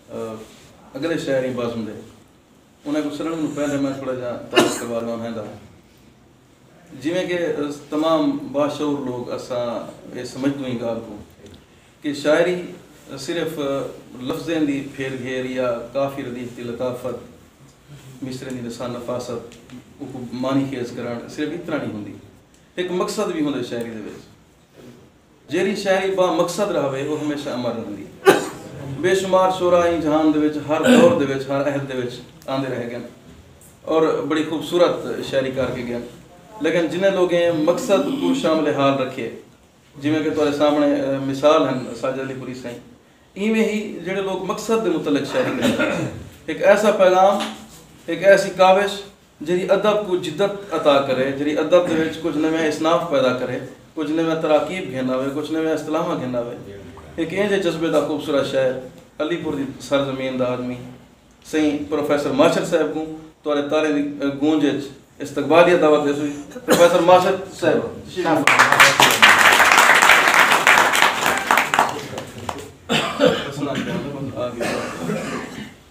اگلے شعر ہی بازم دے انہیں کو سرنگ نو پہلے میں تھوڑا جا تعریف کروا لوں ہیں دا جویں کہ تمام باشعور لوگ اسا یہ سمجھ دوں ہی گال کو کہ شاعری صرف لفظیں دی پھیر گھیر یا کافی ردیف دی لطافت مصرے دی نسان نفاست کو معنی خیز کرن صرف اتنا نہیں ہوں دی ایک مقصد بھی ہوں دے شاعری دے بیس جیرھی شاعری با مقصد رہوے او ہمیشہ امر رہندی ہے۔ بے شمار شعرا ایں جہان دے وچ ہر دور دے وچ ہر عہد دے وچ آندے رہ گن اور بڑی خوبصورت شاعری کر کے گن لیکن جنہیں لوگیں مقصد کوں شامل حال رکھیے جیویں کہ تہاڈے سامنے مثال ہن ساجد علی پوری سائیں ایویں ہی جیڑھے لوگ مقصد دے متعلق شاعری کریندے ہن ہک ایسا پیغام ہک ایسی کاوش جیڑھی ادب کوں جدت عطا کرے، جیڑھی ادب دے وچ کجھ نویاں اصناف پیدا کرے، کجھ نویاں تراکیب گھن آوے، کجھ نویاں اصطلاحاں گھن آوے۔ ہک اینجھے جذبے دا خوبصورت شاعر، علی پور دی سر زمین دا آدمی، سئیں پروفیسر ماشد صاحب کوں تہاݙے تاݙیں دی گونج اچ استقبالیہ دعوت حیث ہوئی۔ پروفیسر ماشد صاحب تشریف فرما۔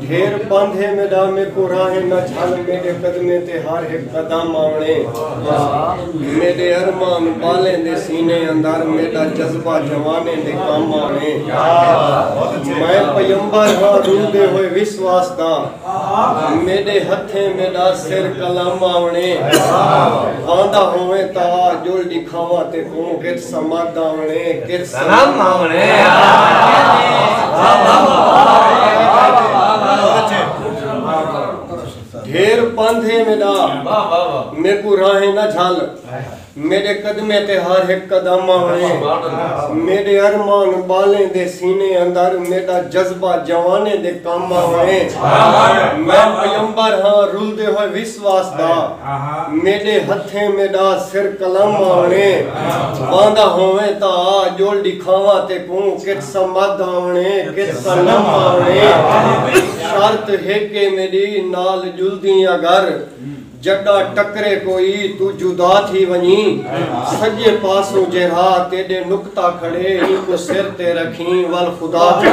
ڈھیر پندھ ہے میڈا میں کو راہ نہ جھل میڈے قدمے تے ہر ایک قدم آونے میڈے ارمان بالیں دے سینے اندر میڈا جذبہ جوانے دے کام آونے میں پیمبر ہاں روندے ہوئے وسواس داں میݙے ہتھیں میݙا سر قلم آوݨے واندا ہوویں تاں جل ݙکھاواں تے کوں کت سمد آوݨے کت سلام آوݨے ڈھیر پندھے میݙا میکوں راہیں نہ جھل میݙے قدمیں تے ہر ہک قدم آوݨے میݙے ارمان ٻالیں دے سینے اندر میݙا جذبہ جوانیں دے کم آوݨے میں پیمبر ہاں رلدے ہوئے وسواس دا میݙے ہتھیں میݙا سر قلم آوݨے واندا ہوویں تاں آ ڄول ݙکھاواں تیکوں کت صمد آوݨے کت صنم آوݨے شرط ہک اے میݙی نال ڄلدیں اگر جڈا ٹکرے کوئی توں جدا تھی ونجیں سجے پاسوں جیرھا تیڈے نقطہ کھڑے اینکوں سر تے رکھیں ول خدا تھی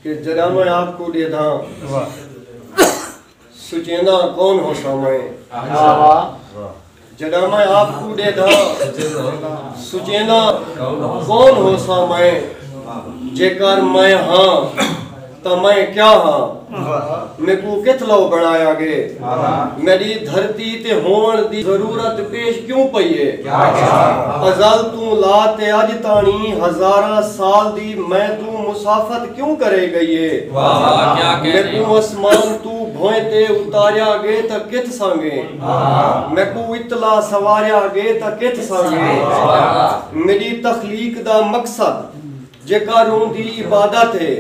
کہ جڈاں میں آپ کوں ڈیدھاں سچینداں کون ہوساں میں جڈاں میں آپ کوں ڈیدھاں سچینداں کون ہوساں میں جے کر میں ہاں تاں میں کیا ہاں میکوں کتھ لو بنڑایا گے۔ میڈی دھرتی تے ہوونڑ دی ضرورت پیش کیوں پئی اے۔ ازل توں لا تے اج تانڑی ہزاراں سال دی میں توں مسافت کیوں کرے گئی اے۔ میکوں اسمان توں بھوئیں تے اتاریا گے تاں کتھ سانگے۔ میکوں اتلا سواریا گے تاں کتھ سانگے۔ میڈی تخلیق دا مقصد جیکا روندی عبادت اے۔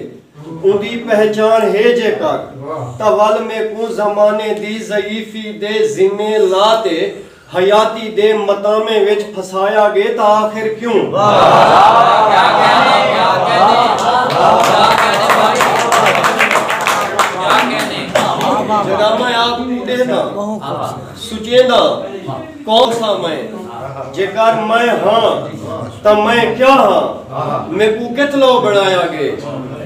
اوندی پہچان ہے جے کر تاں ول میکوں زمانے دی ضعیفی دے ذمے لا تے حیاتی دے متامیں وچ پھسایا گے تاں آخر کیوں؟ کوسا میں جیکر میں ہاں تاں میں کیا ہاں میکوں کت لو بنایا گے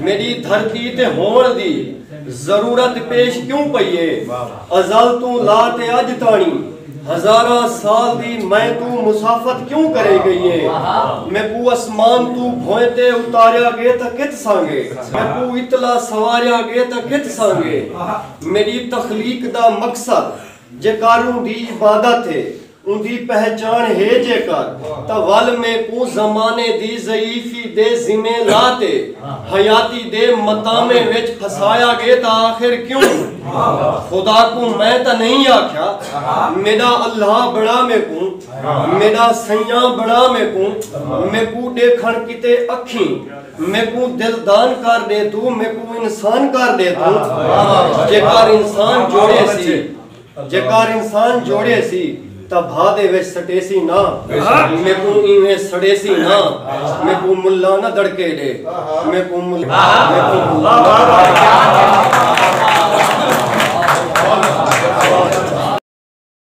میری دھرتی تے ہون دی ضرورت پیش کیوں پئیے ازل توں لا تے اج تانی ہزارہ سال دی میں توں مسافت کیوں کرے گئیے میکوں اسمان توں بھوئے تے اتاریا گے تاں کت سانگے میکوں اتلا سواریا گے تاں کت سانگے میری تخلیق دا مقصد جیکاروں دی عبادت ہے اوندی پہچاݨ ہے جیکار تاں ول میکوں زمانے دی ضعیفی دے ذمے لا تے حیاتی دے متامے وچ پھسایا گے تاں آخر کیوں خدا کوں میں تاں نئیں آکھیا میڈا اللہ بنڑا میکوں میڈا سئیاں بنڑا میکوں میکوں ڈیکھنڑ کیتے اکھیں میکوں دل دان کر ڈے توں میکوں انسان کر ڈے توں جے کر انسان جوڑے سی جے کر انسان جوڑے سی تا بھا دے وچ سٹے سی نا میکوں ایویں سڑے سی نا میکوں ملا نہ دڑکے ڈے میکوں ملا میکوں ملا